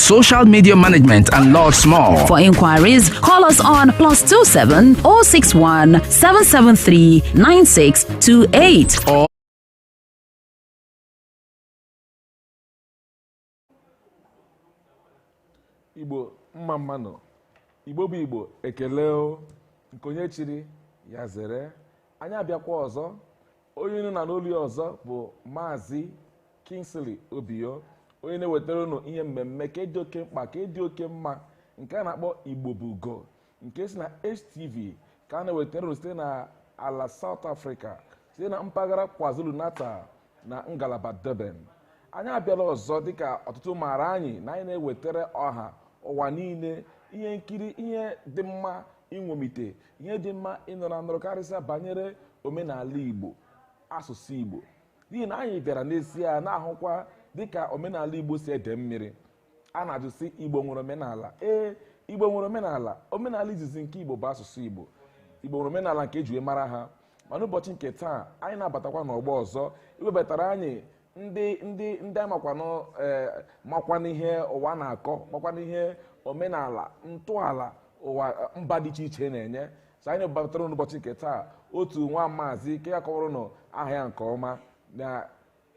social media management, and lots more. For inquiries, call us on plus 27 061 773 9628 o igbo mma mma nụ igbo bụ igbo ekele o nke onye chiri ya zere anyị abịakwa ọzọ onye unu na-anụ olu ya ọzọ bụ maazị Kingsley Obiyo onye na-ewetara unu ihe mmemme nke a dị oke mkpa nke a dị oke mma nke a na-akpọ Igbo bụ ugo nke si na HTV nke a na-ewetara unu site na ala South Africa site na mpaghara KwaZulu-Natal na ngalaba Durban anyị abịala ọzọ dịka ọtụtụ maara anyị na anyị na-ewetara ọha ụwa niile ihe nkiri ihe dị mma iṅomite ihe dị mma ịnụrụ anụrụ karịsịa banyere omenala igbo asụsụ igbo n'ihi na anyị bịara n'ezie na-ahụkwa dịka omenala igbo si ede mmiri a na-ajụ sị igbo nwere omenala ee igbo nwere omenala omenala izizi nke igbo bụ asụsụ igbo igbo nwere omenala nke e ji mara ha mana ụbọchị nke taa anyị na-abatakwa n'ọgbọ ọzọ iwebatara anyị ndị ndị ndị makwanụ ee makwanụ ihe ụwa na-akọ makwanụ ihe omenala ntọala ụwa eh, mba dị iche iche na-enye so anyị batara n'ụbọchị nke taa otu nwa maazị nke ga-akọwara unu aha ya nke ọma na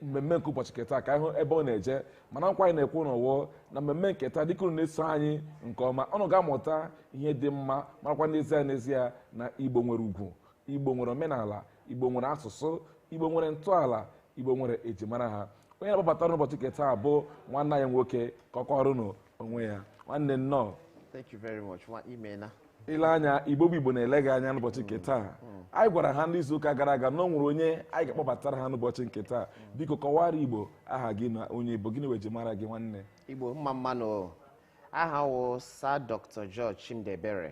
mmemme nke ụbọchị nke taa ka anyị hụ ebe ọ na-eje mana nkwa anyị na-ekwe unu wụ na mmemme nke taa dịka unu na-eso anyị nke ọma unu ga-amụta ihe dị mma marakwa n'ezie n'ezie na igbo nwere ugwu igbo nwere omenala igbo nwere asụsụ igbo nwere ntọala igbo nwere ejimara ha onye m na-akpọbatara unu n'ụbọchị nke taa bụ nwanne anyị nwoke ka ọ kọwara unu onwe ya nwanne nnọọ Thank you very much. Nwa imena. i lee anya igbo bụ igbo na-ele gị anya n'ụbọchị nke taa anyị gwara ha n'izu ụka gara aga na o nwere onye anyị ga-akpọbatara ha n'ụbọchị nke taa biko kọwara igbo aha gị na onye ị bụ gịnị wụ ejimara gị nwanne Igbo mma mma nụ o. Aha m wụ Sir Dr. George Chimdi Mbara.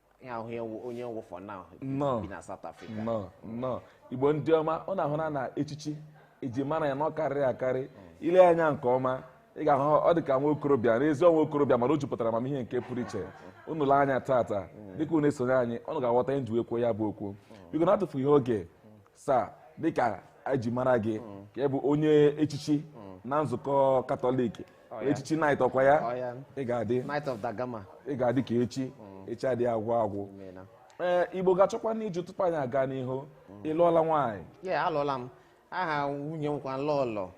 ya ahụ ya wụ- onye wụ for now Nnọọ. bi na South Africa nnọọ nnọọ igbo ndị ọma unu ahụla na echichi e ji mara ya na ọ karịrị akarị i lee ya anya nke ọma ị ga-ahụ ọ dị ka nwa okorobịa n'ezie nwa okorobịa mana o jupụtara amamihe nke pụrụ iche unu lee anya tata dịka unu esonye anyị unu ga-aghọta ihe m ji wee kwuo ya bụ okwu biko n'atụfughị oge sir dịka e ji mara gị ka ị bụ onye echichi na nzukọ katọlik Ọ ya. echichi knight ọkwa ya Ọ ya. ị ga-adị Knight of da Gama. ị ga-adị ka echi echi adịghị agwụ agwụ Imeela. ee igbo ga-achọkwanụ ịjụ tupu anyị aga n'ihu ị lụọla nwaanyị Ee, alụọla m. Aha nwunye m wụkwa lọọlọ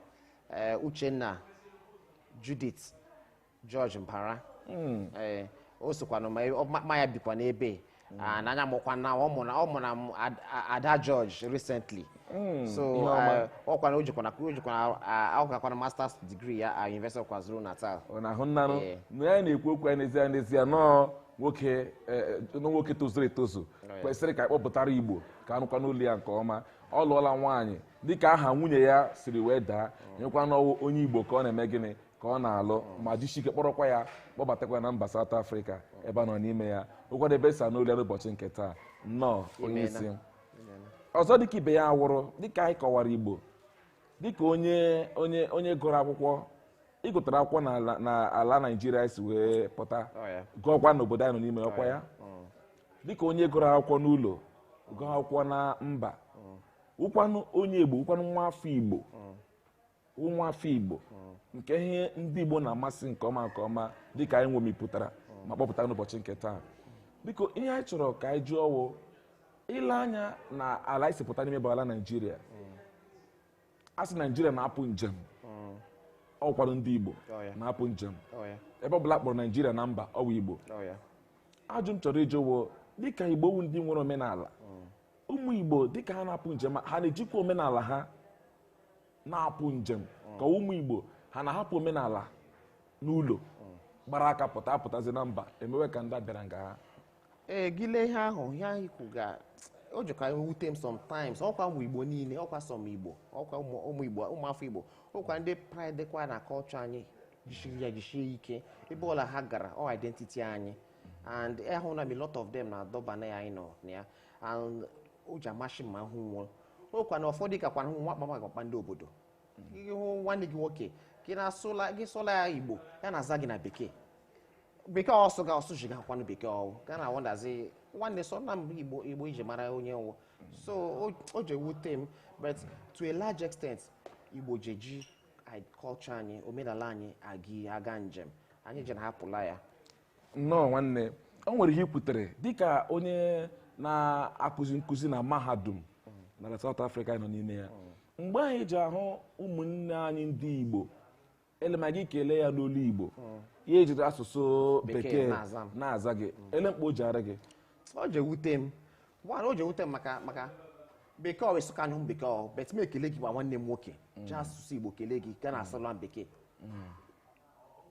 eh, Uchenna Judith George Mbara. Eh, O sokwanụ ma- ọ- mụ na ya bikwanụ ebe. Mm. and anyị makwa na ọ mụrụ ọ mụrụ m Ad- A- ada george recently Mm, so ihe ọma. eh, ọ kwana o jikwana o jikwana ahụkakwana masters degree ya at university of kwazulu natal ọ na-ahụ nnanụ Ee. na ya na-ekwu okwu ya n'ezie n'ezie n'ọ nwoke eh, eh, n'ọ nwoke tozuru etozu Right. kwesịrị ka a kpọpụtara igbo ka a nụkwanụ olu ya nke ọma ọ lụọla nwaanyị dịka aha nwunye ya siri wee daa onye kwanụ wụ onye igbo ka ọ na-eme gịnị ka ọ na-alụ ma jisi ike kpọrọkwa ya kpọbatakwa ya na mba South Africa ebe a nọ n'ime ya ọ wụkwadị ebe e si anụ olu ya n'ụbọchị nke taa nnọọ onye isi ọzọ dịka ibe ya awụrụ dịka anyị kọwara Igbo dịka onye onye onye gụrụ akwụkwọ ị gụtara akwụkwọ n'ala Naijiria si wee pụta oh, gụọkwa n'obodo anyị nọ n'ime ọkwa ya oh, oh. dịka onye gụrụ akwụkwọ n'ụlọ gụọ akwụkwọ na mba wụkwanụ onye Igbo wụkwanụ nwa afọ Igbo ụmụafọ Igbo nke ihe ndị Igbo na-amasị nke ọma nke ọma dịka anyị nwomipụtara ma kpọpụta n'ụbọchị nke taa biko ihe anyị chọrọ ka anyị jụọ ọ wụ e lee anya na ala anyị si pụta n'ime bụ ala Naijiria a sị Naijiria na-apụ njem ọ wụkwadị ndị Igbo na-apụ njem ebe ọ bụla a kpọrọ Naijiria na mba ọ wụ Igbo ajụ m chọrọ ịjụ wụ dịka Igbo wụ ndị nwere omenala ụmụ Igbo dịka ha na-apụ njem ha na-ejikwa omenala ha na-apụ njem ka ụmụ Igbo ha na-ahapụ omenala n'ụlọ gbara aka pụta apụtazi na mba emewe ka ndị a bịara nga ha ee gị lee ihe ahụ ihe ahụ i kwuga o jikwa ewute m sometimes ọkwa ụmụ igbo niile ọkwa some igbo ọkwa ụmụ ụmụ igbo ụmụ afọ igbo ọkwa ndị pride dịkwa na culture anyị jisiri ya jisie ike ebe ọla ha gara ọ identity anyị and ahụna m a lot of them na Durban a anyị nọ na ya o ji amasị m ma m hụ wo ọkwa na ụfọdụ ka kwara nwa kpama akpakpa ndị obodo ị hụ nwanne gị nwoke gị na-asụla gị sụla ya igbo ya na-aza gị na bekee bekee ọ sụga ọ sụjigakwanụ bekee ọ wụ gị a na-wonderzi nwanne sụna m igbo igbo e ji mara onye ị wụ so o- o ji ewute m but to a large extent igbo ji eji anyị- culture anyị omenala anyị aga aga njem anyị ji na-ahapụla ya nnọọ nwanne o nwere ihe i kwutere dịka onye na-akụzi nkụzi na mahadum n'ala South Africa anyị nọ n'ime ya mgbe anyị ji ahụ ụmụnne anyị ndị Igbo e lee ma gị kelee ya n'olu Igbo ya ejiri asụsụ bekee na-aza gị ele kpa o ji arị gị o ji ewute m nwanne o ji ewute m maka maka bekee ọ wụ ị sụka anyụ m bekee ọ but m ekele gị wụ nwanne m nwoke ji asụsụ Igbo kelee gị ka na-asụla m bekee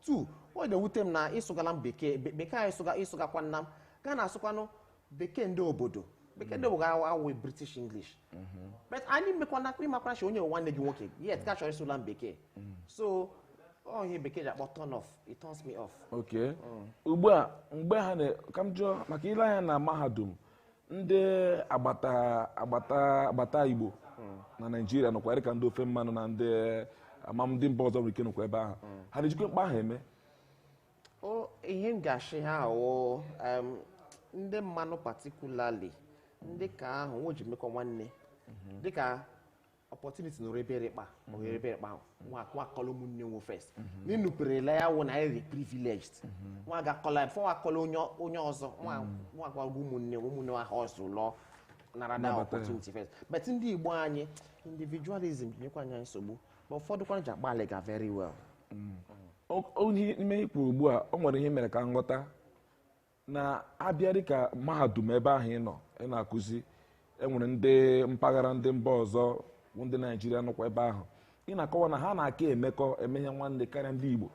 tu ọ na-ewute m na ị sụgala m bekee be- bekee anyị sụga ị sụgakwana m ga na-asụkwanụ bekee ndị obodo bekee ndị obodo awụ british english but anyị mekwana ị makwana chi onye nwanne gị nwoke yet ka chọrọ ịsụla m bekee so ọ ihe bekee ji akpọ turn off it turns me off okay ugbu a mgbe ha na ka m jụọ maka ile anya na mahadum ndị agbata agbata agbata igbo na naijiria nọkwa dịka ndị ofe mmanụ na ndị ma ndị mba ọzọ nwere ike nọkwa ebe ahụ ha na-ejikwa mkpa ahụ eme o ihe m ga-asị ha wụ em, ndị mmanụ particularly ndị ka ahụ nwo ji mekọ nwanne dịka opportunity nụrụ ebe rịkpa ma ohere ebe rịkpa ahụ nwa nwa akọla ụmụnne nwe first n'ịnụperela ya wụ na anyị dị privileged nwa agakọla ya before nwa akọla onye onye ọzọ nwa nwa agwago ụmụnne nwe ụmụnne nwa ha ọzọ lụọ nara na Nabata ya. opportunity first but ndị igbo anyị individualism nyekwa anyị nsogbu ma ụfọdụ kwana ji agbalịga very well O- o- ime ihe i kwu ugbu a o nwere ihe mere ka m ghọta na a bịa dịka mahadum ebe ahụ ị nọ ị na-akụzi e nwere ndị mpaghara ndị mba ọzọ bụ ndị naijiria nọkwa ebe ahụ ị na-akọwa na ha na-aka emekọ eme ihe nwanne karịa ndị igbo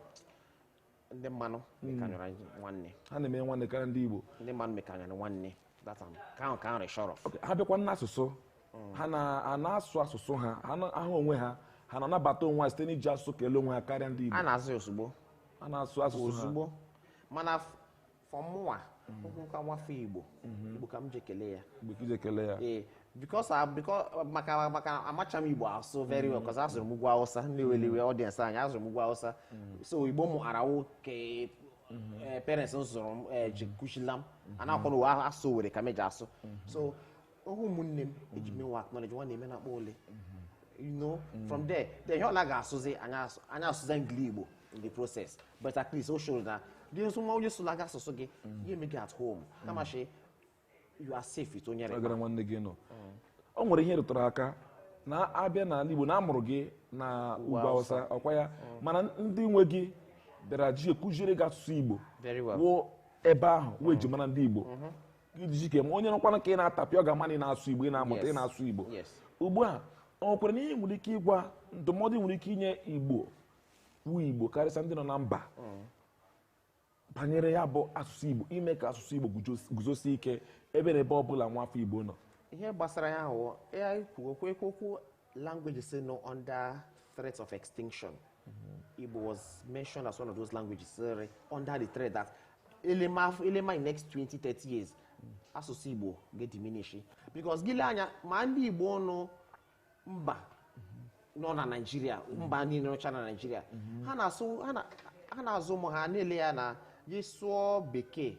ndị mmanụ hmm. mekanyụrụ nwanne ha na-eme nwanne karịa ndị igbo ndị mmanụ mekanyụrụ nwanne ha bịakwa n'asụsụ hmm. ha na-asụ asụsụ ha ahụ onwe ha ha na-anabata onwe ha site n'iji asụsụ kelee onwe ha karịa ndị igbo ha na-asụ asụsụ ha mana for mụwa nwoke nwafọ igbo mhm. igbo ka m ji kele ya ee because ah, ah, maka maka amacha m igbo asụ very well because a zụrụ m ugwu awụsa ndị weliwe mhm. audience anyị a zụrụ m ugwu awụsa mhm. so igbo mụ mara wụ nke eh, parents m sụrụ m eh, ji kụzila m a na-akwụrụ uwe asụ were ka m eji asụ so ahụ ụmụnne m eji m nwa acknowledge nwa na-eme na-akpọ ole you know from there then ihe ọ na-aga asụzi anyị asụ- anyị asụzi engligbo in the process but at least o shoro na dị nso nwa onye sụla gị asụsụ gị ihe eme gị at home kamachi you are safe with onye agara nwanne gị nọ o nwere ihe ị rụtụrụ aka na a bịa n'ala igbo na a mụrụ gị na ugwu awụsa ọ kwa ya mana ndị nwe gị bịara ji kụziere gị asụsụ igbo Very well. wụ ebe ahụ wee ji mara ndị igbo ijiji ka onye nụkwanụ ka ị na-atapịa ọ ga-ama na ị na-asụ igbo ị na-amụta ị na-asụ igbo ugbu a o nwekwaranụ ihe i nwere ike ịgwa ndụmọdụ i nwere ike inye igbo wụ igbo karịsịa ndị nọ na mba mm. banyere ya bụ asụsụ igbo ime ka asụsụ igbo guzosie ike ebe na ebe ọ bụla nwa afọ igbo nọ ihe gbasara ya ahụ ya ikwu okwu ekwu okwu Languages nọ under threat of extinction. Mm-hmm. Igbo was mentioned as one of those languages sorry, under the threat that Elema, Elema in next 20, 30 years, mm-hmm. asụsụ Igbo ga-ediminish. Because gị lee anya ma ndị Igbo nọ mba nọ na Naịjirịa mba niile nọcha na Naịjirịa mm-hmm. ha na-asụ ha na-azụ ụmụ ha na-ele ya na gị sụọ bekee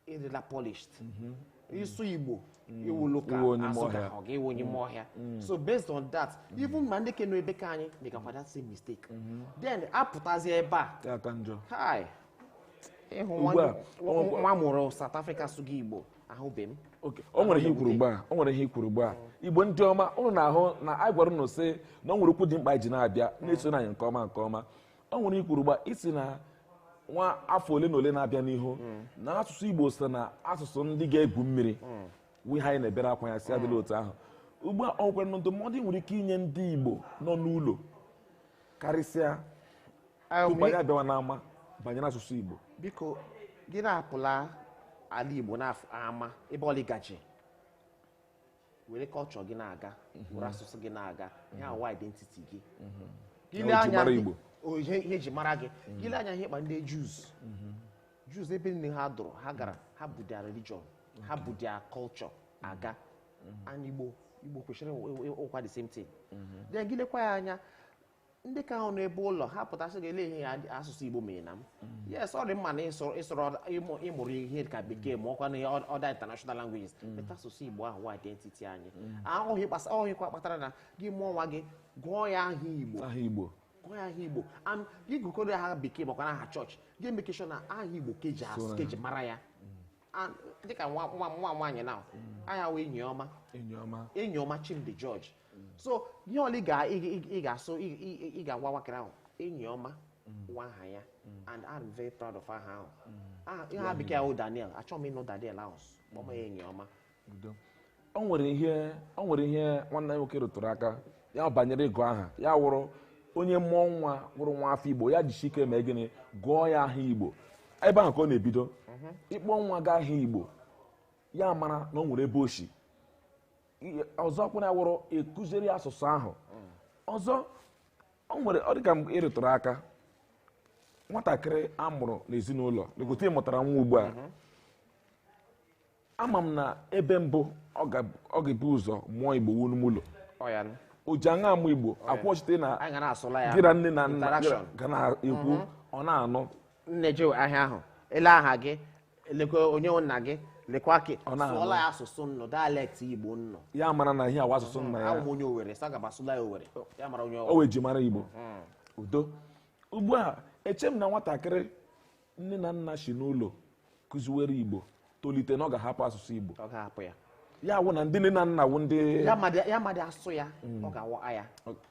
ị dịla polished mm-hmm. ị sụọ igbo mm-hmm. ị wụrụ ka asị ka ọ ga-awụ onye ime ọhịa mm-hmm. so based on that even ma ndị ke nọ ebe ka anyị dị ka kwa the same mistake then apụtazi ebe a hi ịhụ nwa a mụrụ South Africa sụga igbo ahụbe m o nwere ihe i kwuru ugbu a o nwere ihe i kwuru ugbu a igbo ndị ọma ụnụ na-ahụ na anyị gwara ụnụ sị na ọ nwere okwu dị mkpa e ji na-abịa na-esonụ anyị nke ọma nke ọma o nwere ihe i kwuru ugbu a ị sị na nwa afọ ole na ole na-abịa n'ihu na asụsụ igbo so na asụsụ ndị ga-egwu mmiri wụ ihe anyị na-ebere akwa ya sị adịla otu ahụ ugbu a o nwekwaranụ ndụmọdụ ị nwere ike inye ndị igbo nọ n'ụlọ karịsịa tupu anyị abịawa n'ama banyere asụsụ igbo biko gị na-apụla ala igbo n'ama ebe ọla ị gaje were culture gị na-aga mhm. were asụsụ gị na-aga mhm. ihe a wụ identity gị mhm. ihe eji mara gị gị lee anya ihe kpa ndị Jews Jews ebe niile ha dụrụ ha gara ha bu their religion ha bu their culture aga and igbo igbo kwesịrị ịwụkwa the same thing then gị lekwa ya anya ndị ke ahụ nọ ebe ụlọ ha pụta sị gị elee ihe asụsụ igbo meerena m yes ọ dị mma na ị sụrụ ị sụrụ other- ị mụ ị mụrụ ihe ka bekee ma ọkwa na ihe ọ- other international languages but asụsụ igbo ahụ wụ identity anyị ọ wụ ihe gbasa- ọ wụ ihekwa kpatara na gị mụọ nwa gị gụọ ya aha igbo aha igbo gụọ ya aha igbo and gị gụkọdị ya aha bekee makwanụ aha chọọchị gị e make sure na aha igbo ka e ji So asụ na- ka e ji mara ya And dịka nwa nwa nwa nwa anyị na aha ya wụ Enyiọma Enyiọma Enyiọma Chimdi George so ihe ọla ị ga-asụ ị ga-agwa nwatakịrị ahụ Enyiọma wụ aha ya and I'm very proud of aha ahụ Aha ya bekee wụ Daniel achọghị m ịnụ Daniel ahụ kpọma ya Enyiọma Udo. o nwere ihe o nwere ihe nwanne anyị nwoke rụtụrụ aka ya banyere ịgụ aha ya wụrụ onye mụọ nwa wụrụ nwa afọ igbo ya jishie ike mee gịnị gụọ ya aha igbo ebe ahụ ka ọ na-ebido ịkpọ nwa gị aha igbo ya mara na o nwere ebe o shi ọzọ kwụna wụrụ ịkụziri asụsụ ahụ ọzọ o nwere ọ dịka mgbe ị rụtụrụ aka nwatakịrị a mụrụ n'ezinụlọ leka etu ị mụtara nwa ugbu a mhm. ama m na ebe mbụ ọ ga-ebu ụzọ mụọ igbo wụ n'ime ụlọ o ji aṅa amụ igbo akwụchite na gị na nne na nna ga na-ekwu mhm. ọ na-anụ nne jụọ aha ahụ elee aha gị lekwa onye wụ nna gị lekwa ke Ọ na-anụ. sụọla ya asụsụ nnụ dialect igbo nnụ ya mara na ihe a wụ asụsụ nna ya ahụ m onye owere sa gaba sụla ya owere ya mara onye o owere wee ji mara igbo udo ugbu a eche m na nwatakịrị nne na nna si n'ụlọ kụziwere igbo tolite na ọ ga-ahapụ asụsụ igbo ọ ga-ahapụ ya ya wụ na ndị nne na nna wụ ndị ya madị ya madị asụ ya ọ ga-awọ aya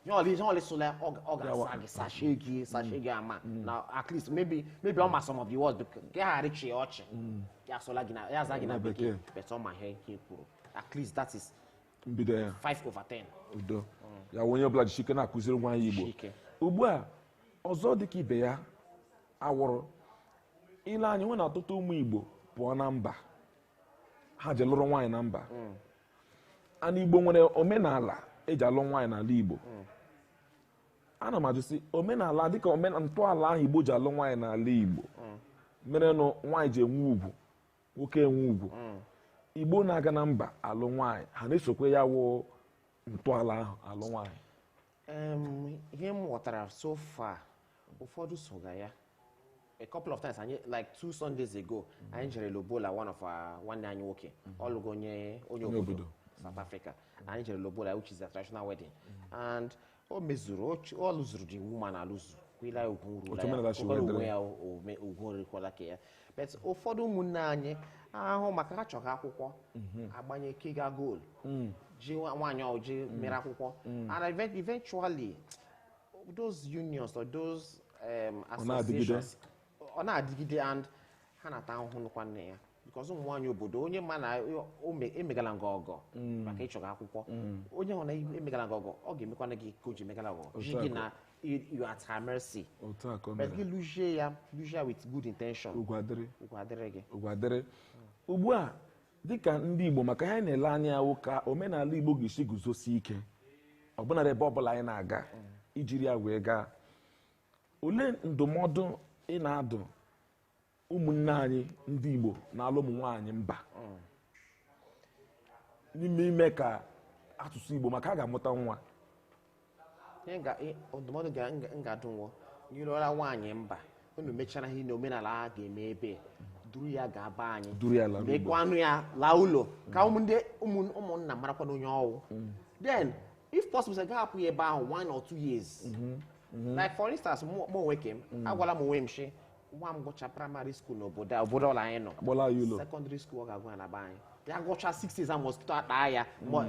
ya ọlị ihe ọlị sụla ya ọ ga- ọ ga-asa gị sashe gị sashe gị ama na at least maybe maybe ọ ma some of the words but ka ya ghara ịchị ya ọchị ya asụla gị na ya aza gị na Na bekee bekee. but ọ ma ihe i kwuru at least that is mbido ya 5 over 10 udo ya wụ onye ọbụla jisi ike na-akụziri nwa ya igbo Chike. ugbu a ọzọ dị ka ibe ya awụrụ ile anyị nwe na ọtụtụ ụmụ igbo pụọ na mba ha ji lụrụ nwaanyị na mba hmm. and igbo nwere omenala eji alụ nwaanyị n'ala igbo hmm. ana m ajụ sị omenala dịka omenala ntọala ahụ igbo ji alụ nwaanyị n'ala igbo hmm. merenụ nwaanyị ji enwe ugwu nwoke enwe ugwu igbo na-aga na mba alụ nwaanyị ha na-esokwa ya wụ ntọala ahụ alụ nwaanyị ihe m ghọtara so far ụfọdụ soga ya a couple of times anyị like two Sundays ago anyị jere Lobola one of our nwanne anyị nwoke ọ lụgo onye onye obodo South Africa anyị jere Lobola which is a traditional wedding and o mezuru ọ lụzuru the woman alụzu kwila ugwu rula ya onwe ya ugwu rukwala ka ya but ụfọdụ ụmụnne anyị ahụ maka ha chọga akwụkwọ mhm. agbanye kiga goal mm. ji nwaanyị oji ji mm. mere akwụkwọ mm. and eventually those unions or those um, associations ọ na-adịgide and ha na-ata ahụhụ nụkwa nne ya because ụmụ nwaanyị obodo onye ma na emegala gị ọgọ maka ị chọga akwụkwọ onye hụ na emegala gị ọgọ ọ ga-emekwana gị ka o ji emegala ọgọ ji gị na you, you at her mercy otu a ka o but mere gị lụzie ya lụzie ya with good intention ugwu adịrị ugwu adịrị gị ugwu adịrị ugbu a dịka ndị igbo maka ihe anyị na-ele anya wụ ka omenala igbo ga-esi guzosi ike ọbụnarị ebe ọbụla anyị na-aga ijiri ya wee gaa olee ndụmọdụ ị na-adụ ụmụnne anyị ndị Igbo na-alụ ụmụ nwaanyị mba n'ime ime ka asụsụ Igbo maka a ga-amụta nwa ndụmọdụ m ga-adụ wụ onye lụla nwaanyị mba unu mechara ihe na omenala a ga-eme ebe duru ya gaa be anyị mekwanụ ya laa ụlọ ka ndị ụmụnna marakwana onye ọ wụ mm. then if possible sị gaa hapụ ya ebe ahụ one or two years mm-hmm. Mm-hmm. like for instance mụ onwe ke m mm. agwala m onwe m shi nwa m gụcha praịmarị skuul n'obodo a obodo ọla anyị nọ Akpọla ya ụlọ. sekọndịrị skuul ọ ga-agụ ya na be anyị ya gụcha 6 years a mosquito ataa ya ma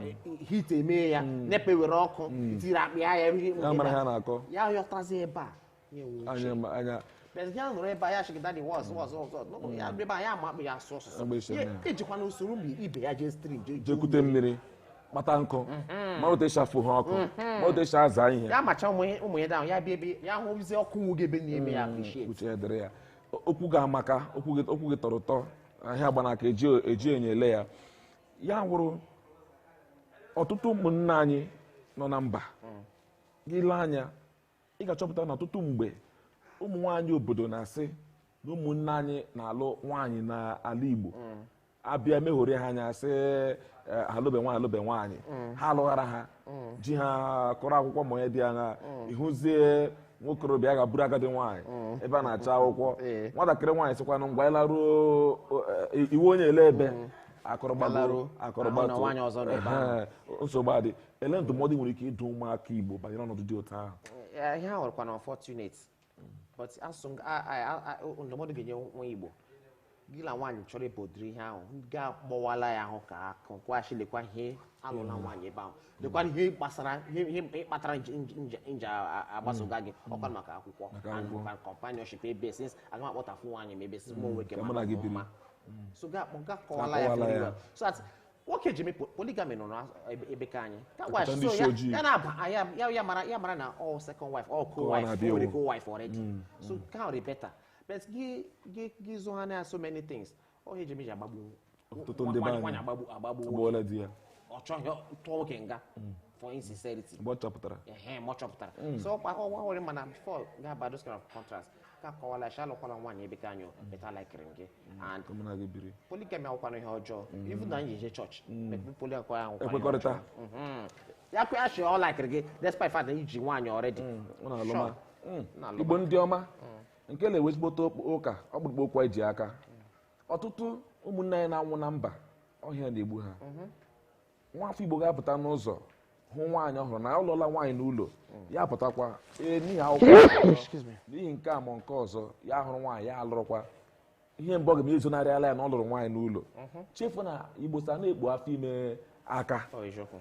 heat emee ya NEPA were ọkụ tiri apịa ya ihe Ya mara ihe a na-akọ. ya yọtazi ebe a ya enwe uche. anya ma- anya Bịazi ya nọrọ ebe a ya chịrị dadị wọz wọz wọz wọz. No, no, ya ebe a ya ma akpụ ya asụ Agba ọsụsụ isi Ya- anya. ejikwa na o soro ụmụ ibe ya jee stream jee jee jekwute kute mmiri kpata nkụ mhm. mara otu esi afụ ha ọkụ mhm. mara otu esi aza ihe ya macha ụmụ ya ahụ ya bịa ebe ya hụzie ọkụ nwu gị ebe na-eme ya mm, appreciate uche ya dịrị ya okwu gị amaka okwu gị tọrọ ụtọ ihe agba n'aka eji enyo ele ya ya wụrụ ọtụtụ ụmụnna anyị nọ na mba mm. gị lee anya ị ga-achọpụta na ọtụtụ mgbe ụmụ nwaanyị obodo na-asị na ụmụnna anyị na-alụ nwaanyị n'ala Igbo mm. abịa meghori ha anya sị eh, alụbe nwaanyị alụbe nwaanyị mm. ha alụghara ha mm. ji ha kọrọ akwụkwọ ma onye dị anya ị hụzie nwokorobịa gaa buru agadi nwaanyị mm. ebe a na-achọ akwụkwọ eh. nwatakịrị nwaanyị sịkwanụ ngwa ị laruo eh, ị wụ onye ele ebe mm. akọrọ gbagoro akọrọ gbatu nsogbu adị ele ndụmọdụ i nwere ike ịdụ ụmụaka igbo banyere ọnọdụ dị otu ahụ Eh, ihe a wụkwanụ unfortunate but asụ m- a- a- a- a- ndụmọdụ ga-enye nwa igbo gị na nwaanyị chọrọ ịbụ ụdịrị ihe ahụ ga kọwala ya ahụ ka akụ kwaghachi lekwa ihe alụla nwaanyị ebe ahụ lekwa ihe gbasara ihe ihe ihe kpatara nje- nje- nje- nje a- a- agbasoga gị ọkwa maka akwụkwọ Maka and akwụkwọ. maka companionship ebe since aga m akpọtafu nwaanyị ma ebe since mụ nwoke ka mụ na gị biri. so ga akpọ ga kọwala ya Akọwala very ya. well so that nwoke ji mekpo polygamy nọ n'ebe ka anyị ka Ọkọta wife ndị so isi ya- ojii. ya na-aba ah, ya- ya ya mara ya mara na all second wife all co Ụwa wife na-abịa already ewu. co wife already so ka ọ dị better but gị gị gị zoo ha na so many things ọ ihe ji meji agbagbu Ọtụtụ ndị be anyị. nwaanyị agbagbu agbagbu Agbụọla di ya. ọ chọghị tụọ nwoke nga for insincerity mgbe ọ chọpụtara ehe ma ọ chọpụtara so ọkwa ọgwa nwere mana before ga-aba those kind of contracts ka akọwala shị alụkwala nwaanyị ebe anyị but a likiri gị and ka mụ na gị biri polygamy awụkwana ihe ọjọọ even na anyị eje chọọchị mekpe poli akwa ya awụkwana ihe Ekwekọrịta. ọjọọ. Mhm. ya kwuo shi ọ likiri gị despite fact na i ji nwaanyị already ọ na-alụ Sure. ma Mm. Na-alụ igbo ndị ọma nke na-ewe ezigbote okp- ụka ọkpụrụkpụ okwu anyị ji n'aka ọtụtụ ụmụnna anyị na-anwụ na mba ọ ihe na-egbu ha nwafọ igbo ga-apụta n'ụzọ hụ nwaanyị ọ wụrụ na alụọla nwaanyị n'ụlọ ya pụtakwa ee n'ihi akwụkwọ Excuse me. n'ihi nke a ma nke ọzọ ya hụrụ nwaanyị ya alụrụkwa ihe mbụ ọ ga-ezonarịala ya na ọ lụrụ nwaanyị n'ụlọ chefu na igbo sị a na-ekpu afọ ime aka Ọ eziokwu.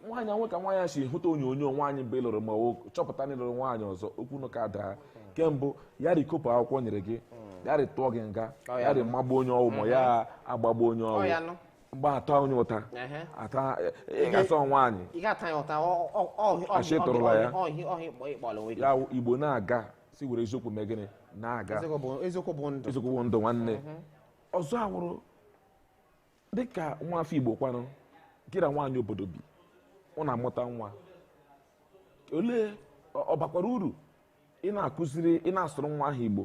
nwaanyị nwe ka nwaanyị a si hụta onyonyo nwaanyị mgbe ị lụrụ ma o chọpụta na ị lụrụ nwaanyị ọzọ okwu na ụka daa kembụ ya rikopụ akwụkwọ o nyere gị ya rịtụọ gị nga Ọ ya ya rị magbuo onye ọ wụ ma ya agbagbuo onye Ọ ya ọ wụ nụ. mgbe a ta onye ụta Ehe. ata ị ga-asọ nwaanyị ị ga-ata ya ụta ọ- ọ- ọ- ọ- A shị ọ- tụrụla ya. ọ- ọ- ọ- ọ- ịkpọla onwe gị ya wụ igbo na-aga si were eziokwu mee gịnị na-aga Eziokwu bụ- eziokwu bụ ndụ eziokwu bụ ndụ nwanne ọzọ awụrụ dịka nwa afọ igbo kwanụ gị na nwaanyị obodo bi unu amụta nwa olee ọ ọ bakwara uru ị na-akụziri ị na-asụrụ nwa ahụ igbo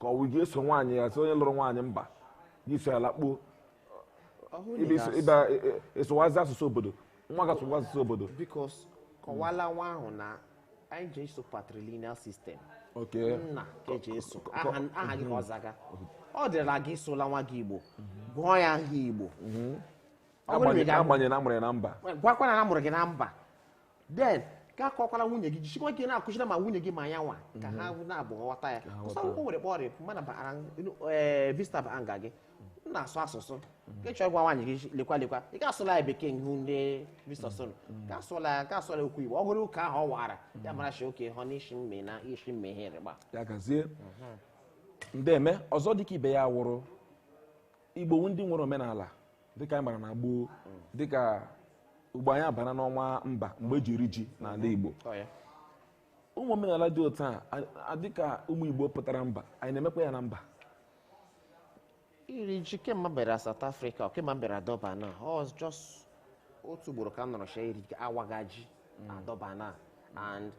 ka ọ wụ gị eso nwaanyị ya sị onye lụrụ nwaanyị mba gị so ya lakpuo ị sụwazi asụsụ obodo nwa gị asụwa asụsụ obodo because kọwala nwa ahụ na anyị ji eso patrilineal system oke nna ka eji eso aha aha gị ka ọ zaga ọ dịla gị sụọla nwa gị igbo gụọ ya aha igbo Ọ bụrụ na ị ga- agbanyere na amụrụ ya na mba gwakwa na a mụrụ gị na mba then gị akọkwala nwunye gị jisikwa ike na-akụziri ma nwunye gị ma ya nwa ka ha hụ na-abụ ghọta ya kụsa akwụkwọ nwere kpọrọ ịpụ mana bara ee visitor bịa nga gị unu na-asụ asụsụ ka ị chọrọ ịgwa nwaanyị gị lekwa lekwa ị ga-asụla ya bekee ihu ndị visitor solo ka asụla ya ka asụla ya okwu igbo ọ hụrụ ụka ahụ ọ wara ya mara shi oke hụ n'isi mme na isi mme ihe rịgba ya gazie ndeme ọzọ dịka ibe ya wụrụ igbo wụ ndị nwere omenala dịka anyị mara na gboo dịka ugbu a anyị abara n'ọnwa ember mgbe eji eri ji n'ala Igbo ụmụ omenala dị otu a dịka ụmụ Igbo pụtara mba anyị na-emekwa ya na mba iri ji kemgbe m bịara South Africa kemgbe m bịara Durban a just otu ugboro ka m nụrụ shi a waga ji mm. Durban a and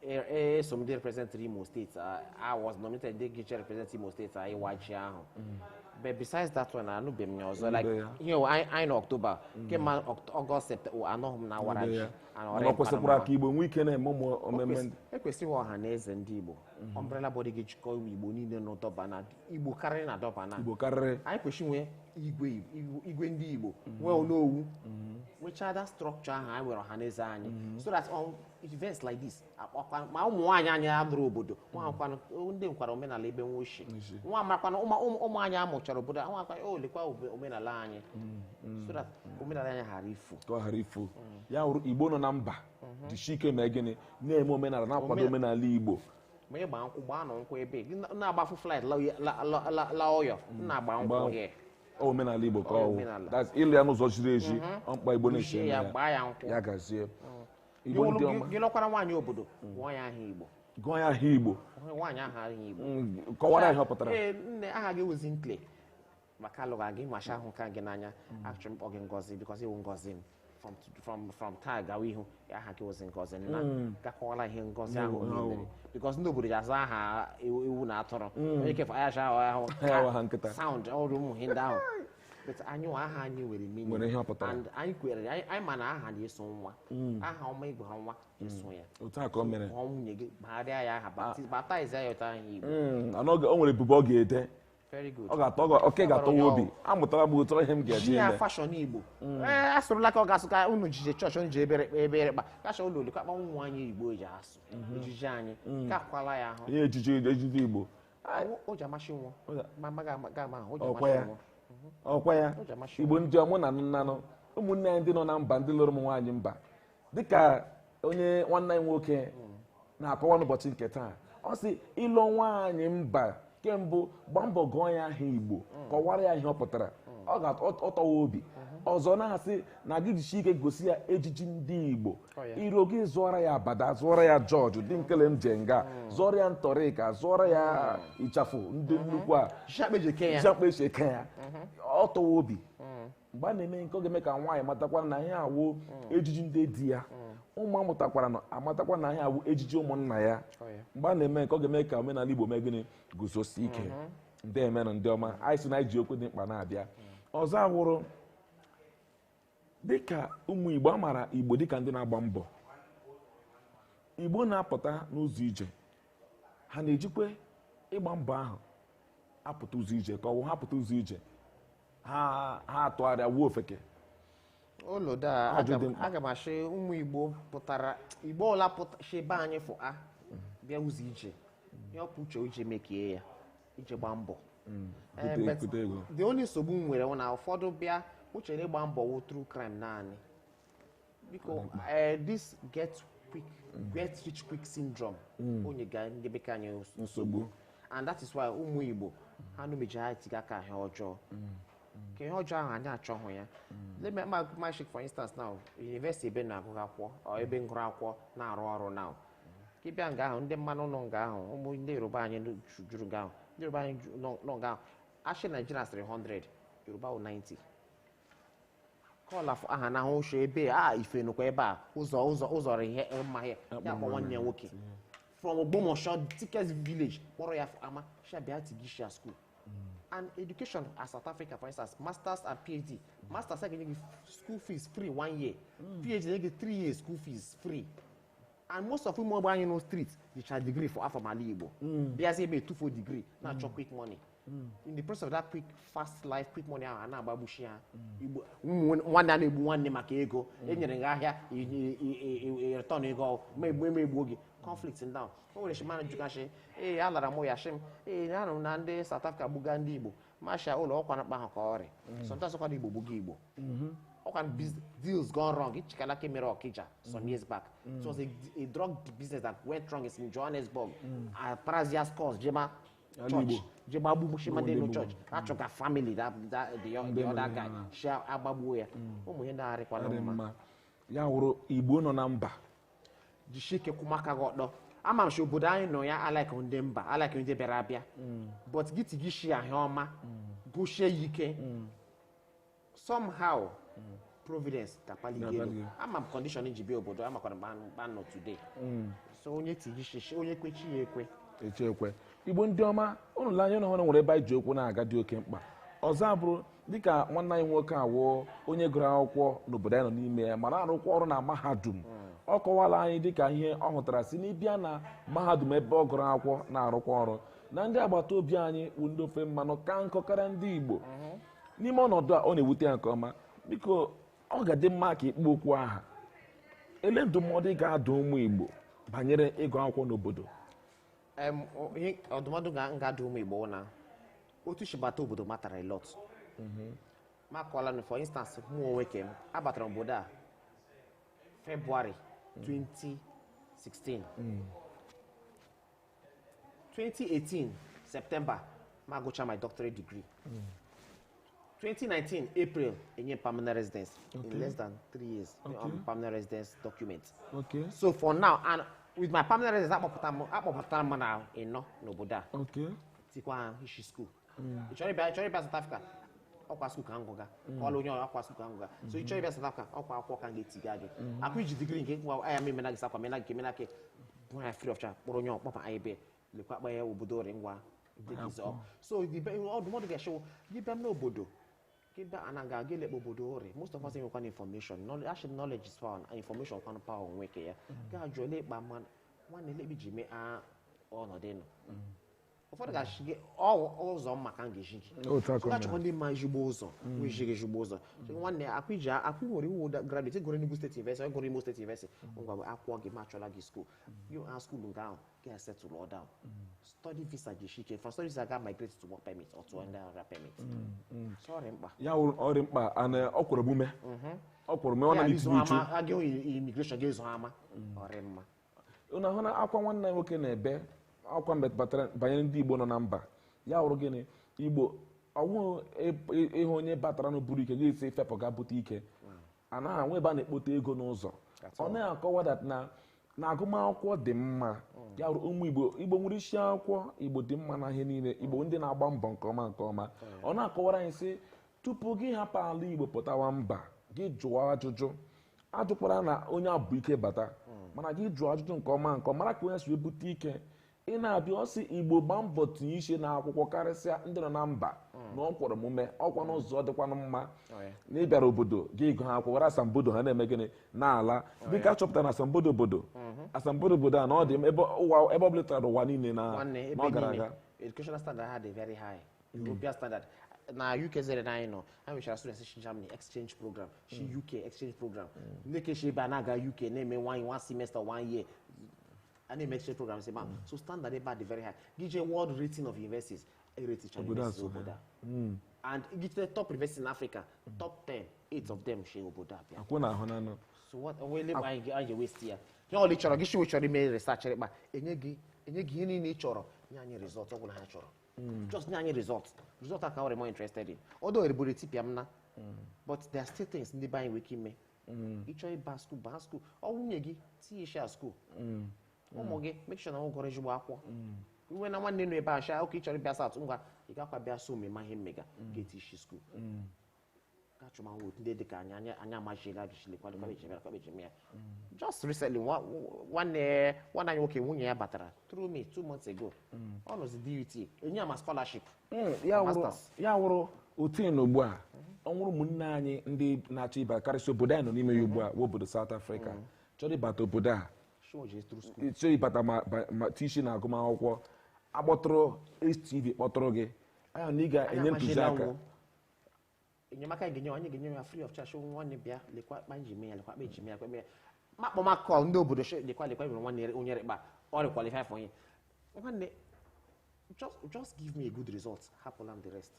eso m ndị represent Imo State I was nominated ndị ga-eje represent Imo State n'ịwa ji ahụ but besides that one anụbeghị m ya ọzọ like ihe anyị nọ October kemgbe August September anụghị m na a wara ji mana kwesịkwara ka Igbo nwee ike na-eme ụmụ emume e kwesịrị nwee ọha na eze ndị Igbo umbrella body ga-ejikọ ụmụ Igbo niile nọ Durban na Igbo karịrị na Durban na Igbo karịrị anyị kwesịrị nwee igwe ndị Igbo nwee onowu nwechaa that structure ahụ anyị nwere ọha na eze anyị so that events like this a kpọkwa ma ụmụ nwaanyị anyị lụrụ obodo nwaakwana ndị nwekwara omenala ebe nwa ochie N'ishi. nwa amakwana ụmụ ụmụ- ụmụ anyị amụchara obodo a, nwa akwa o lekwa obe- omenala anyị so that omenala anyị ghara ifu ka ọ ghara ifu ya wụrụ igbo nọ na mba jisi ike mee gịnị na-eme omenala na-akwado Omen- omenala igbo ma ị gbaa nkwụ gbaa nọ nkwụ ebe gị na- na-agbafu flight la uye- la- la- la- la ụyọ na-agba nkwụ Gbaa- here ọ omenala igbo ka Ọ ọ wụ omenala. that's ịlụ ya n'ụzọ ziri ezi ọ mkpa igbo na-esi Kpuchie eme ya ya gbaa ya nkwụ ya gazie Igbo ndị ọma. ị lụkwara nwaanyị obodo gụọ ya aha igbo gụọ ya aha igbo nwaanyị aha aha igbo Mm, kọwara ihe ọ pụtara ee nne aha gị wụzi nkle maka alụgha gị maka ahụka m gị n'anya achọrọ m kpọọ gị ngozi because ị wụ ngozi m from from from taa gawa ihu aha gị wụzi ngozi nna gị akọwala ihe ngozi ahụ o mere because ndị obodo ji aza aha ewu ewu na atụrụ onye kefe ayacha ahụ Ayawa ha nkịta. sound ọrụ ụmụ ihe ndị ahụ but anyị nwa aha anyị nwere meaning. Nwere ihe ọ pụtara. and anyị kwere anyị anyị ma na aha na-eso nwa aha ọma ị gụọra nwa eso ya otu a ka o mere ọ nwunye gị gbagharịa ya aha baptiz baptize ya ụta anyị igbo Mm, ana oge- o nwere ebubo ọ ga-ete very good ọ ga-atọ ọ ga- oke ga-atọ ya obi amụtara m otu ihe m ga-eji ji ya eme fashion igbo ee asụrụla ka ọ ga-asụ ka unu jije chọọchị unu ji ebere ebere kpa kacha ụlọ olukakpa ụmụ nwaanyị igbo ji asụ ejiji anyị kakwala ya ahụ ihe ejiji ejiji igbo ọkwa ya igbo ndị ọma unu na-anụ ụmụnne anyị ndị nọ na mba ndị lụrụ ụmụ nwaanyị mba dịka onye nwanne anyị nwoke na-akọwa n'ụbọchị nke taa ọ sị ị lụọ nwaanyị mba nke mbụ gbaa mbọ gụọ ya aha igbo mm. kọwara ya ihe ọ pụtara mm. ọ tọwa obi mm-hmm. ọzọ na-asị na gị jishie ike gosi ya ejiji ndị igbo iro gị zụọra ya abada zụọra ya jọọjị dị nkele m je nga hmm. zụọra ya ntọrịka zụọra ya hmm. ịchafụ ndị hmm. nnukwu a shakpeji eke ya ọ tọwa obi mgbe a na-eme nke a ọ ga-eme ka nwaanyị matakwa na ihe a wụ ejiji ndị di ya ụmụ a mụtakwaranụ amatakwa na ihe a wụ ejiji ụmụnna ya oh, mgbe a na-eme nke a ọ ga-eme ka omenala Igbo mee gịnị guzosie ike ndeemenụ ndị ọma anyị sị na isi okwu dị mkpa na-abịa ọzọ awụrụ dịka ụmụ igbo a maara igbo dịka ndị na-agba mbọ igbo na-apụta n'ụzọ ije ha na-ejikwa ịgba mbọ ahụ apụta ụzọ ije ka ọ wụ na ha pụta ụzọ ije ha ha atụgharịa wụọ ofeke olodo a Ajụjụ a dị m- mkpa. aga m ashị ụmụ igbo pụtara igbo ọwụla pụta shi be anyị fụa bịa ụzọ ije ihe o bu uche uche mekie ya ije gbaa mbọ mm. the only nsogbu m nwere na ụfọdụ bịa eche na ịgba mbọ wụ through crime naanị biko eh, this get quick mm. get rich quick syndrome mm. ọ na-enyeka anyị nsogbu and that is why ụmụ Igbo ha numeji ha tiga aka ihe ọjọọ ka ihe ọjọọ ahụ anyị achọghị ya let me ma shake for instance now university ebe m gụrụ akwụkwọ ebe m gụrụ akwụkwọ na-arụ ọrụ now ka ị bịa nga ahụ ndị mmanụ nọ nga ahụ ụmụ ndị yoruba anyị nọ- ju- juru nga ahụ ndị yoruba anyị ju- nọ nọ nga ahụ a shị naijiria dịrị 100 yoruba wụ 90 kọla fụ aha na ahụ ochie ebe a ife nụkwa ebe a ụzọ ụzọ ụzọ rị ihe mma ya ya kpọ nwanne ya nwoke from ogbomosho thickest village kpọrọ ya fụ ama shabia tigisha school and education at south africa for instance masters and phd masters a ga-enye gị school fees free one year phd na-enye gị three years school fees free and most of ụmụ igbo anyị nọ street jicha degree from ala igbo mm. bịazi ebe a tufuo degree na-achọ mm. quick money mm. in the process of that quick fast life quick money ahụ a na-agbagbuchi ya igbo nwanne a na-egbu nwanne maka ego enyere gị ahịa return ego ma egbu eme egbuo gị conflict ndị ahụ o nwere shimana jụgasị ee alara m ya shị m ee anụrụ na ndị South Africa gbuga ndị igbo m shị ya olo ọkwa na kpa ahụ ka ọ rị sometimes kwa na igbo gbuga igbo mm-hmm. ọkwa deals gone wrong ichetala ka mere ọkija some mm-hmm. years back mm. it was a, a drug business that went wrong is in johannesburg mm. atarazia scores jema church je gbagbushi madụ nọ church achọga family that that the other guy shi agbagbuo ya ụmụ ihe na-arịkwana mma ya wụrụ igbo nọ na mba jishie ike kwụma aka gị ọtọ ama m si obodo anyị nọ ya alike ndị mba alike ndị bịara abịa but gị tiga ishi ahịa ọma jishie ya ike somehow providence ga-akpali gị elu ama m condition m ji bịa obodo a makwara m kpa m nọ today mm. so onye tigishie ishi onye kwe chi ya ekwe chi ya ekwe igbo ndị ọma ụnụ le anya ahụ na e nwere ebe anyị ji okwu na-aga dị oke mkpa ọzọ abụrụ dịka nwanne anyị nwoke a wụ onye gụrụ akwụkwọ n'obodo anyị nọ n'ime ya mara arụkwa ọrụ na mahadum mm. ọ kọwala anyị dịka ihe ọ hụtara si n'ịbịa na mahadum ebe ọ gụrụ akwụkwọ na-arụkwa ọrụ na ndị agbata obi anyị bụ ndị ofe mmanụ ka nkọ karịa ndị igbo mm-hmm. n'ime ọnọdụ a ọ na-ewute ya nke ọma biko ọ ga-adị mma ka ị kpọ okwu aha elee ndụmọdụ ị ga-adụ ụmụ Igbo banyere ịgụ akwụkwọ n'obodo Em, o- ihe ọdụmọdụ m ga-adụ ụmụ igbo na otu shi bata obodo matter a lot ma kọọla na for instance mụ onwe ke m abatara obodo a february 2016 2018 september mụ agụcha my doctorate degree 2019 april enye permanent residence Okay. in less than three years Okay. um, permanent residence document Okay. so for now and with my permanent residence akpọpụtara m akpọpụtara m na ịnọ n'obodo a Okay. tikwaha ishi school hmm. ị chọrọ ịbịa chọrọ ịbịa South Africa ọkwa school ka m gụga hmm. kọọla onye ọkwa school ka m gụga so ị chọrọ ịbịa South Africa ọkwa akwụkwọ ka m ga-etiga gị akwa iji degree nke nwa aya m emena gị sakwa mena gị mena gị bụ ya free of charge kpọrọ onye ọkpọpa anyị bịa lekwa akpa ya obodo ori ngwa so ọdụmọdụ ga-echewo gị bịa n'obodo kida anaga gele ebe obodo rị most of us enwekwanụ information knowledge actually knowledge is power and information kwan power onwe ke ya ga jole ba man wan le bi jime a ọnọdụ nọ ụfọdụ ga-ashị gị ọ wụ ụzọ m ma ka m ga-ezi gị Otu aka ahụ ga-achọkwa ndị ma ezigbo ụzọ wee zi gị ezigbo ụzọ Sị, nwanne ọkwa i ji ọkwa nwere ị wụ graduate gụrụ Enugu State University gụrụ Imo State University ngwa buru akwụkwọ gị m achọla gị school gị baa school nke ahụ gị settle down study visa ji ike from study visa ga migrate to work permit or to any other permit so ọ dị mkpa ya wụrụ ọ dị mkpa na o kwere omume o kwere omume ọ na Ya, n'itibu izu uchu ama- aga immigration ga-ezo ama ọ dị mma unu ahụna akwa nwanne anyị nwoke na-ebe akwa mbe batara banyere ndị igbo nọ na mba ya wụrụ gịnị igbo ọ wụ ị hụ onye batara na-eburu ike gị sị fepụ ga bute ike anaghị enwe ebe a na-ekpote ego n'ụzọ That's all. ọ na-akọwa that na na agụmakwụkwọ dị mma ya wụrụ ụmụ igbo igbo nwere isi akwụkwọ igbo dị mma na ihe niile igbo ndị na-agba mbọ nke ọma nke ọma ọ na-akọwara anyị sị tupu gị hapụ ala igbo pụtawa mba gị jụọ ajụjụ ajụkwara na onye a bu ike bata mana gị jụọ ajụjụ nke ọma nke ọma, mara ka onye si ebute ike ị na-abịa ọ sị igbo gba mbọ tinye ishi na akwụkwọ karịsịa ndị nọ na mba na o kwere omume ọkwa n'ụzọ dịkwanụ mma na ị bịara obodo gị ịgụ ha akwụkwọ asambodo ha na-eme gịnị na-ala dịka a chọpụtara na asambodo obodo asambodo obodo a na ọ dị ebe ụwa- ebe ọ bụla tara ụwa niile na Nwanne, ebe na ọ gara niile, aga educational standard ha dị very high. European standard na UK zere na anyị nọ ha nwechara students si Germany exchange program si mm. UK exchange program mm. ndị ke shi ebe a na-aga UK na-eme one one semester one year a na-eme exchange program si ma mm. so standard ebe a dị very high gị jee world rating of universities e ratecha universities obodo a and gị jee top university in Africa top 10 eight of them shi obodo a bịa akwụ na ahụ na anọ so what onwe ele anyị ga-ewesti ya ihe ọwụla ị chọrọ gị shiwe chọrọ ime research rịkpa enye gị enye gị ihe niile ị chọrọ nye anyị result ọ bụla ha chọrọ Mm. just nye anyị result result a ka ọ dị more interested in although eriburu etipịa m na mm. but there are still things ndị be anyị nwere ike ime mm. ị chọrọ ịba school baa school ọ wụ nwunye gị tinye isi ya school ụmụ gị make sure na ọ gụrụ ezigbo akwụkwọ i nweena nwanne nọ ebe a shị ya ọkwa ị chọrọ ịbịa South ngwa ị gakwa bịa so ma ị ma ihe mega ga-eti isi school achọmanwụ ndị dịka anyị anya anya amachiela ajụchili kwadụ lekwa ebe eji mere ya lekwa ebe eji mere ya just recently nwa- nwanne nwanne anyị nwoke nwunye ya batara through me two months ago ọ nọzi DUT enye ya ma scholarship Mm, ya wụrụ Masters. ya wụrụ otu na ugbu a ọ wụrụ ụmụnne anyị ndị na-achọ ịba karịsịa obodo anyị nọ n'ime ya ugbu a wụ obodo South Africa chọrọ ịbata obodo a chọọ ije through school chọrọ ịbata ma- ba- ma tii ishi na agụmakwụkwọ akpọtụrụ HTV kpọtụrụ gị anyị na gị ga-enye Anyị ntụziaka amachiela enyemaka anyị ga-enye anyị ga-enye ya free of charge nwanne bịa lekwa akpa m ji mee ya lekwa akpa eji mee ya lekwa mee ma akpọmakọ ndị obodo shi lekwa lekwa nwere nwanne re- onye rịkpa ọ rị qualify for onye nwanne just just give me a good result hapụla m the rest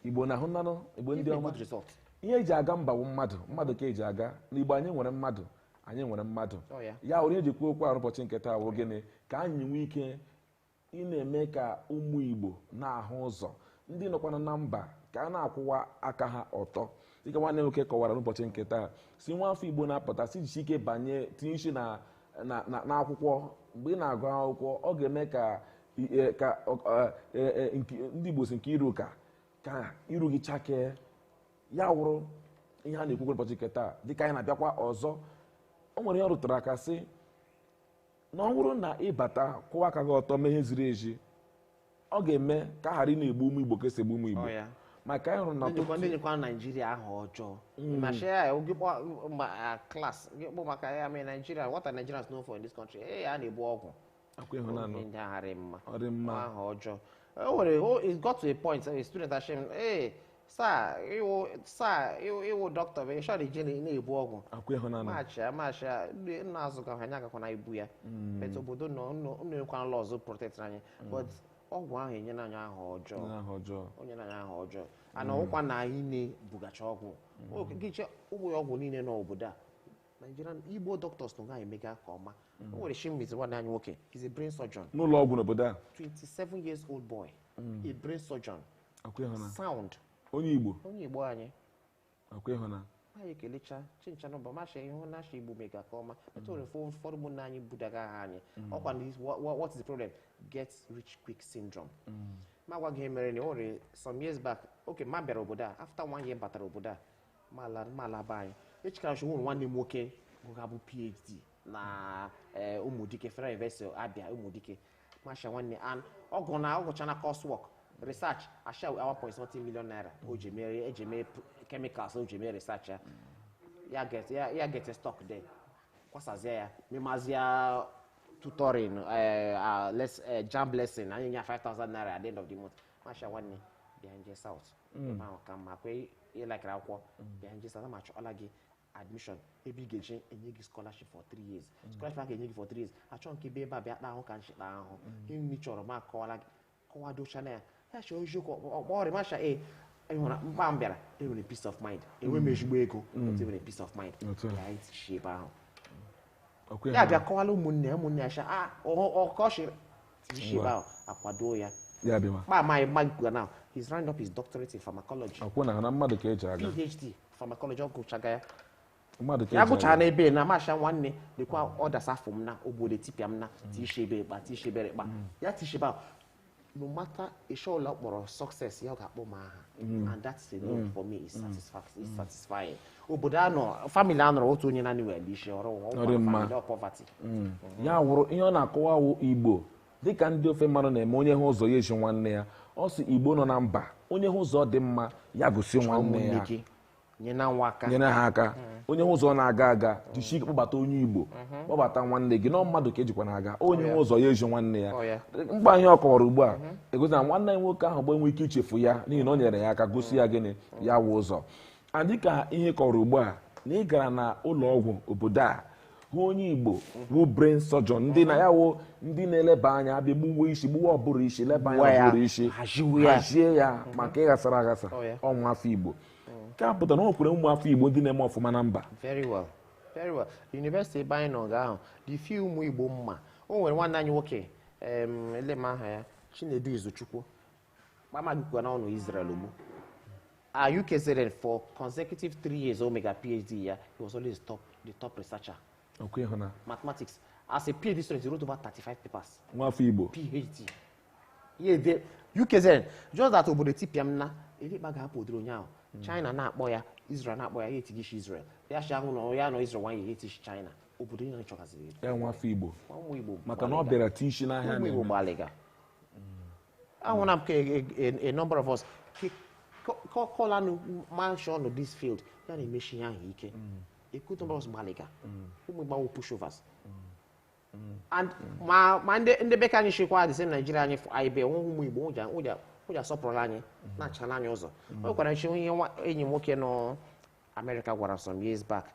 igbo unu ahụnanụ igbo ndị give me a ọma good result ihe eji aga mba wụ mmadụ mmadụ ka eji aga igbo anyị nwere mmadụ anyị nwere mmadụ Ọ ya. ya wụrụ ihe e ji kwuo okwu arụ ụbọchị nke taa wụ gịnị ka anyị nwee ike ị na-eme ka ụmụ Igbo na-ahụ ụzọ ndị nọkwana na mba ka ha na-akwụwa aka ha ọtọ dịka nwanne nwoke kọwara n'ụbọchị nke taa sị nwa afọ Igbo na-apụta sị jisie ike banye tinye isi na n'akwụkwọ mgbe ị na-agụ akwụkwọ ọ ga-eme ka e, e, e, ndị Igbo sị nke iru ka ka iru gị chakee ya wụrụ ihe a na-ekwukwa ụbọchị nke taa dịka anyị na-abịakwa ọzọ o nwere ihe ọ rụtara aka sị na ọ bụrụ na ị bata kwụwa aka gị ọtọ mee ihe ziri ezi ọ ga-eme ka a ghara ịna-egbu ụmụ igbo ka e si egbu ụmụ igbo maka anyị hụrụ na ọtụtụ ndị nyekwa naijiria aha ọjọọ hmm. ma share ya gị kpọ ma class gị kpọ maka ya mee naijiria what are nigerians known for in this country ee a na-ebu ọgwụ akwa ịhụnanụ ndị agharị mma ọdị mma aha ọjọọ o nwere it got to a point a student ashị m ee sir ị wụ sir ị wụ ị wụ dọkịta bụ i sho ndị jeni na-ebu ọgwụ akwa ịhụ na machia machia ndị nna azụ ka anyị agakwana ibu ya but obodo nọ unu ekwana lọ ọzọ protect anyị but ọgwụ ahụ enyela anyị aha ọjọọ na aha ọjọọ o nyere anyị aha ọjọọ ana ọkwa na anyị na-ebugacha ọgwụ Okay gị jee ụlọ ọgwụ niile n'obodo a Nigerian Igbo doctors na gaghị emega ka ọma o nwere Chimezie nwanne anyị nwoke is a brain surgeon n'ụlọ ọgwụ n'obodo a 27 years old boy a brain surgeon sound onye igbo onye igbo anyị akwa ịhụna anyị kelechaa chincha nọmba masha ihe na asha igbo emega ka ọma etu nwere fọ ụfọdụ ụmụnna anyị budaga aha anyị mm. ọkwa na wha- wha- what is the problem get rich quick syndrome Mm. ma gwa gị ihe mere na o nwere some years back oge m bịara obodo a after one year batara obodo a ma la- ma laba anyị echekara shi nwụrụ nwanne m nwoke gụga bụ phd na eh, ụmụdike federal university Abia ụmụdike masha nwanne an ọgụ na ọ gụchaala coursework research asha 1.7 million naira o ji mere e ji mee p- chemicals o ji mee research ya ya get ya ya get stuck there kwasazie ya memazie tutoring eh, ah, les- eh, JAMB lesson a na-enye ya 5000 naira at the end of the month masha nwanne bịa jee south ebe ahụ ka mma kwe ị likere akwụkwọ bịa jee south ma chọọla gị admission ebe ị ga-eje enye gị scholarship for three years mm. scholarship a ga-enye gị for three years achọ nke ebe ebe a bịa kpa ahụ ka nchịkpa ahụ mm. ihe nri chọrọ ma kọwara gị kọwadocha na ya ya chọọ eziokwu ọkpọ ọrịa macha e ị hụra mkpa m bịara enwere peace of mind enwe m mm. ezigbo ego but enwere peace of mind ya etichi ebe ahụ Ọkwa ya ya bịa kọwala ụmụnne ya ụmụnne ya sha a ọkọchịrị tishiba akwado ya ya bịa ma kpa amaghị mma gwa na he's round up his doctorate in pharmacology akwụ na na mmadụ ka eji aga phd pharmacology ọ gụchaga ya mmadụ ka ya eji gụchara aga n'ebe na masha nwanne lekwa ọdas afọ m n'obodo tipịa m na tishebe ịkpa tishebere ịkpa ya tishebe ahụ no matter ịchọ ụlọ kpọrọ success ya ọ ga-akpọ m aha mm. and that's enough mm. for me is mm. satisfying obodo a nọ family a nọrọ otu onye naanị were isi ọrụ poverty ya wụrụ ihe ọ na-akọwa wụ igbo dịka ndị ofe mmanụ na-eme onye hụ ụzọ ya ezi nwanne ya ọ sị igbo nọ na mba onye hụ ụzọ dị mma ya gosi nwanne ya nyere ha aka onye hụ ụzọ na-aga aga jisie ike kpọbata onye igbo mhm. kpọbata nwanne gị na mmadụ ka e jikwa na-aga oh, onye hụ ụzọ ya ezi nwanne ya oh, mgbe anyị ọ kọwara ugbu a mhm. egosi na nwanne anyị nwoke ahụ bụ enwe ike ichefu ya n'ihi na o nyere ya aka gosi ya gịnị mhm. ya wụ ụzọ dịka ihe ọ kọrọ ugbu a na ị gara na ụlọ ọgwụ obodo a hụ onye igbo bụ brain surgeon ndị na ya wụ ndị na-eleba anya a bịa gbuwe isi gbuwe ụbụrụ isi leba anya ụbụrụ isi hazie ya maka ịghasara aghasa oh, ọ nwa afọ igbo nke a pụtara na o nwekwuru ụmụ afọ Igbo ndị na-eme ọfụma na mba very well very well yunivesiti ebe anyị nọ ga ahụ dị fi ụmụ Igbo mma o nwere nwanne anyị nwoke ele m aha ya Chinedu Izuchukwu kpamagikwa na ọ nọ Israel ugbu a UKZN for consecutive three years o mega PhD ya he was always top the top researcher mathematics as a PhD student he wrote over 35 papers nwafọ Igbo PhD Yeah, the UKZN just that obodo tipịa m na elekpa ga-apụ odoro ụnyaahụ China na-akpọ ya Israel na-akpọ ya ya etiga ishi Israel ya shi ahụ na ya nọ Israel nwanyị ya etie ishi China obodo niile chọgaziri edo. ya nwa afọ igbo Ma ụmụ Igbo maka na ọ gbalịga. bịara ti isi n'ahịa ụmụ Igbo na-eme. gbalịga ahụ na m ka a- a- a number of us ke- ko- ko- kọlanụ manshọn this field ya na-emechi ihe ahụ ike a good number of us gbalịga ụmụ Igbo awụ pushovers And ma ma ndị ndị be ka anyị chịkwa dịsị naijiria anyị fụ anyị be nweghị ụmụ igbo ụja ụja ụja sọpụrụla anyị na-achara anyị ụzọ o nwekwara nchi ihe nwa enyi m nwoke nọ amerịka gwara some years back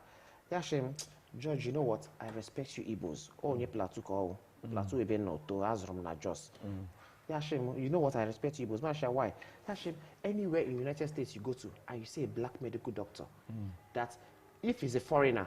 ya sị m george you know why i respect you igbos ọ onye plateau ka ọ wụ plateau ebe m nọ too a zụrụ m na jos ya sị m you know why i respect you igbos m shị ya why ya sị m anywhere in united states you go to and you see a black medical doctor that if he's a foreigner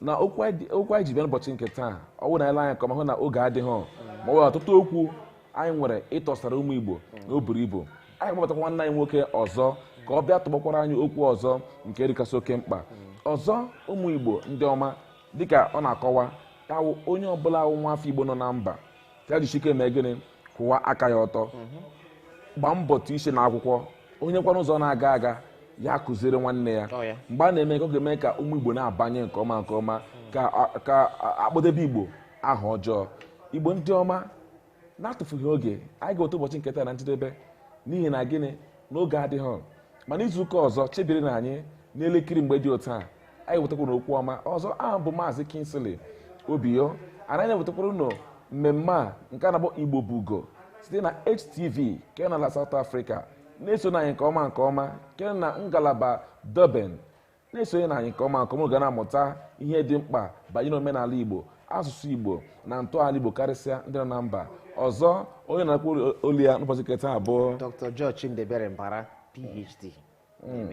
na okwu anyị dị- okwu anyị ji bịa n'ụbọchị nke taa ọ bụrụ na anyị lee anya nke ọma hụ na oge adịghị ma ọ bụ ọtụtụ okwu anyị nwere ịtọsara ụmụ igbo na o buru ibu anyị kpọbatakwa nwanne anyị nwoke ọzọ ka ọ bịa tụgbakwara anyị okwu ọzọ nke dịkasị oke mkpa ọzọ ụmụ igbo ndị ọma dịka ọ na-akọwa ya wụ onye ọbụla wụ nwa afọ igbo nọ na mba ya jisike mee gịnị kwụwa aka ya ọtọ gbaa mbọ tụ isi na akwụkwọ onye hụkwana ụzọ na-aga aga ya kụziere nwanne ya Ọ ya. mgbe a na-eme ka ọ ga-eme ka ụmụ igbo na-abanye nke ọma nke ọma ka a- ka a- a kpọdebe igbo aha ọjọọ igbo ndị ọma na-atụfughị oge anyị ga-eweta ụbọchị nke taa na njedebe n'ihi na gịnị na oge adịghị mana izu ụka ọzọ chebirinụ anyị n'elekiri mgbe dị otu a anyị wetakwara okwu ọma ọzọ abụ m maazị Kingsley Obiyo anyị na-ewetakwara ụnụ mmemme a nke a na-akpọ Igbo bụ ugo site na HTV nke n'ala South Africa na-esonụ anyị nke ọma nke ọma nke na ngalaba Durban na-esonyenụ anyị nke ọma nke ọma ga na-amụta ihe dị mkpa banyere omenala Igbo asụsụ Igbo na ntọala Igbo karịsịa ndị nọ na mba ọzọ onye na-akpọ olu ya n'ụbọchị nke taa bụ Dr. George Chimdiebere Mbara PhD hmm.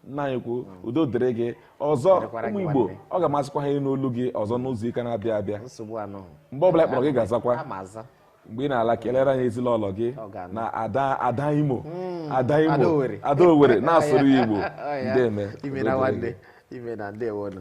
nna anyị ukwu udo dịrị gị ọzọ Dịkwara gị ụmụ igbo nwanne. ọ ga-amasịkwa ha ịnụ olu gị ọzọ n'izu ụka na-abịa abịa nsogbu anọ mgbe ọbụla anyị kpọrọ gị ị ga-azakwa aga m aza mgbe ị na-ala kelere anyị ezinụlọ gị Ọ ga-anụ. na ada ada imo ada imo Ada Owerri. ada owere na-asụrụ ya igbo Ọ ya. ndeeme imeela nwanne imeela ndewo nụ